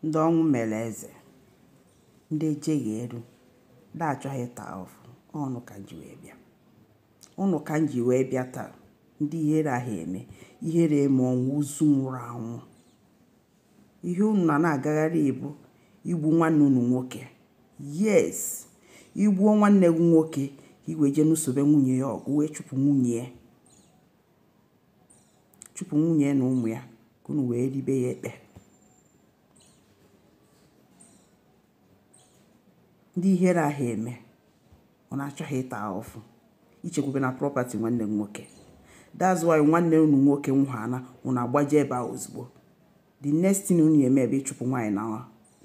ndị ọnwụ mere eze ndị ejeghị ọrụ ndị achọghị ịta afụfụ unu ka m ji wee bịa ụnụ ka m ji wee bịa taa ndị ihere aha eme ihere eme ọnwụ ozu nwụrụ anwụ ihe unu na na-agagharị bụ igbu nwanne unu nwoke yes i gbuo nwanne gị nwoke i wee jee nụsobe nwunye ya ọgụ wee chụpụ nwunye ya chụpụ nwunye na ụmụ ya ka unu wee ribe ya ekpe ndị ihere aha eme unu achọghị ịta ahụfụ i chekwube na property nwanne m nwoke that's why nwanne unu nwoke nwụhana unu agbaje ebe a ozugbo the next thing unu eme bụ ịchụpụ nwaanyị na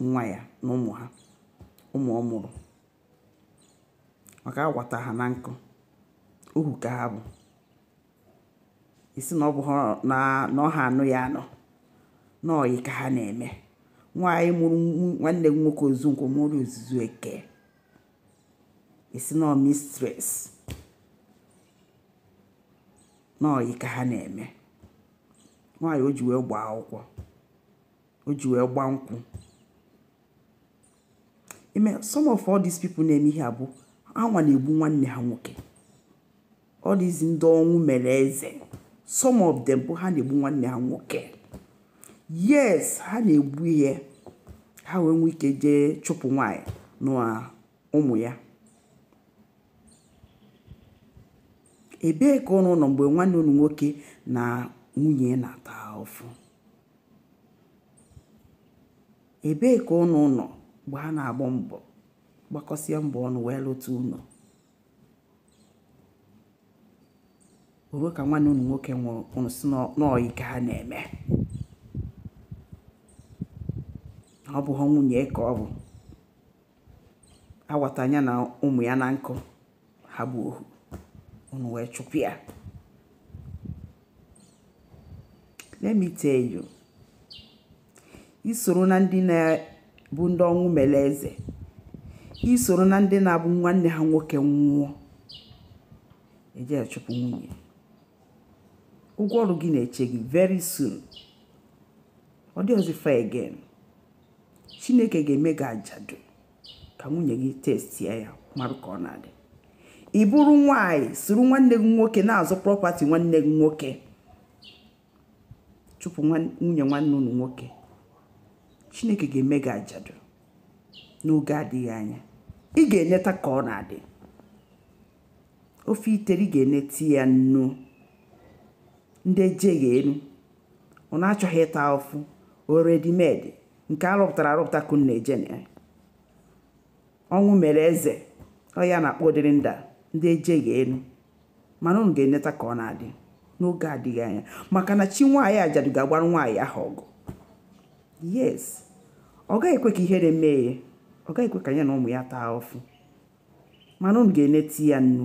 nwa ya na ụmụ ha ụmụ ọ mụrụ maka awata ha na nkụ ohu ka ha bụ i si na ọ bụ na ọ ha anụ ya anụ na ọyị ka ha na-eme nwaanyị mụrụ nwanne m nwoke ozu nkwọ mụrụ ozuzu eke i si na ọ mistress na ọyị ka ha na-eme nwaanyị o ji wee gbaa akwụkwọ o ji wee gbaa nkwụ ime some of all these people na-eme ihe a bụ ha nwa na-egbu nwanne ha nwoke all these ndị ọnwụ mere eze some of them bụ ha na-egbu nwanne ha nwoke yes ha na-egbu ya ha wee nwee ike jee chụpụ nwaanyị na ụmụ ya ebee ka ụnụ nọ mgbe nwanne unu nwoke na nwunye na-ata afụfụ ebee ka ụnụ nọ mgbe ha na-agba mbọ gbakọsịa mbọ ọnụ wee lụta ụlọ ruo ka nwanne unu nwoke nwụrụ unu si na ọyị ka ha na-eme ọ bụha nwunye ya ka ọ bụ awata ya na ụmụ ya na nkụ ha bụ ohu unu wee chụpụ ya let me tell you i soro na ndị na-abụ ndị ọnwụ mere eze i soro na ndị na-abụ nwanne ha nwoke nwụọ eje achụpụ nwunye ụgwọ ọrụ gị na-eche gị very soon ọ dịrọzi far again chineke ga-eme gị ajadu ka nwunye gị testie ya marụ ka ọ na-adị ị bụrụ nwaanyị soro nwanne gị nwoke na-azọ property nwanne gị nwoke chụpụ nwunye nwanne unu nwoke chineke ga-eme gị ajadu n'oge adịghị anya ị ga-eneta ka ọ na-adị ofe i tere ị ga-eneta ya nnu ndị ejeghị elu unu achọghị ịta ụfụ ọ ready-made nke arụpụtara arụpụta ka unu na-eje na ya ọnwụ mere eze ọ ya a na-akpọ ụdịrị ndị a ndị ejeghị elu mana unu ga-eneta ka ọ na-adị n'oge adịghị anya maka na chi nwaanyị ajadu ga-agbara nwaanyị ahụ ọgụ yes ọ gaghị ekwe ka ihere mee ya ọ gaghị ekwe ka ya na ụmụ ya taa ụfụ mana unu ga-eneti ya nnu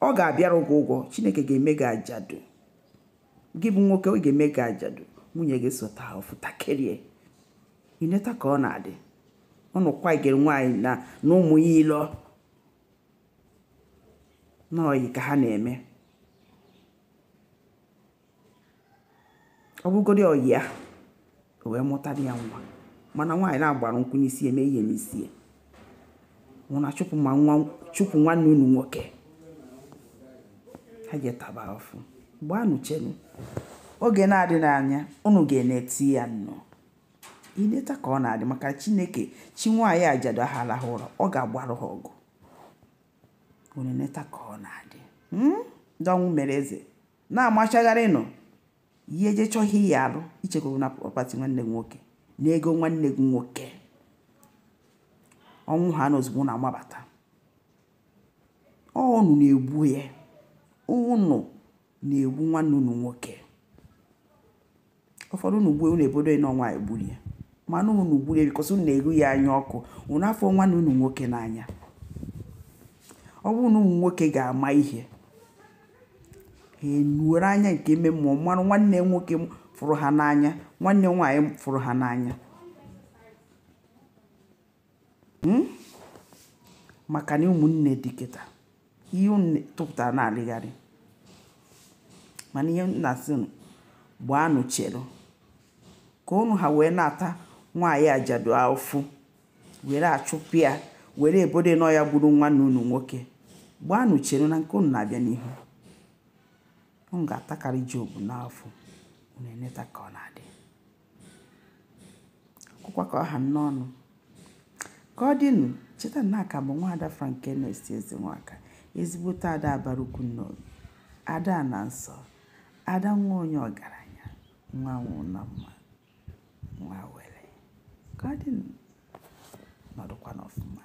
ọ ga-abịara gị ụgwọ chineke ga-eme gị ajadu gị bụ nwoke ọ ga-eme gị ajadu nwunye gị sota ofụtakerie i neta ka ọ na-adị unu kwagere nwaanyị na ụmụ ya ilo na ọyị ka ha na-eme ọ bụgodị ọyị ya o wee mụtara ya nwa mana nwaanyị na-agbara nkwụ n'isi eme ihe n'isi ya unu achụpụ ma nwa chụpụ nwanne unu nwoke ha eje taba afụ gbaanụ chenu oge na-adị n'anya unu ga-eneti ya nnu i neta ka ọ na-adị maka chineke chi nwaanyị ajadu ahụ alahụ ụra ọ ga-agbarụ ha ọgụ unu eneta ka ọ na-adị ndị ọnwụ mere eze na-amachagharịnụ ihe je chọọ ihe ị ya-alụ i chekwuru na property nwanne gị nwoke na ego nwanne gị nwoke ọ nwụhaa ozugbo unu amabata ọ unu na-egbu ya unu na-egbu nwanne unu nwoke ụfọdụ unu gbue unu ebodo na ọ nwaanyị gburu ya mana unu gburu ya because unu na-eru ya anya ọkụ unu afụrọ nwanne unu nwoke n'anya ọ bụrụ na ụmụ nwoke ga-ama ihe ha enwere anya nke ime mmụọ mara nwanne nwoke fụrụ ha n'anya nwanne nwaanyị fụrụ ha n'anya hmm? maka na ụmụnne dị kịta ihe unu tụpụtara na-alịgharị mana ihe m na-asị unu gbaanụ chere ka unu ha wee na-ata nwaanyị ajadu afụ were achụpụ ya were ebodo na ọ ya gburu nwanne unu nwoke gbaanụ chere na nke unu na-abịa n'ihu unu ga-atakarị job n'afụ unu eneta ka ọ na-adị akwụkwa ka ọ ha n'ọnụ ka ọ dịnụ cheta na aka bụ nwaada frankenes ezenwaka ezigbote ada abara ukwu n'obi ada na nsọ ada nwa onye ọgaranya nwa nwụ na mma nwa were ka ọ dịnụ nọdụkwanụ ọfụma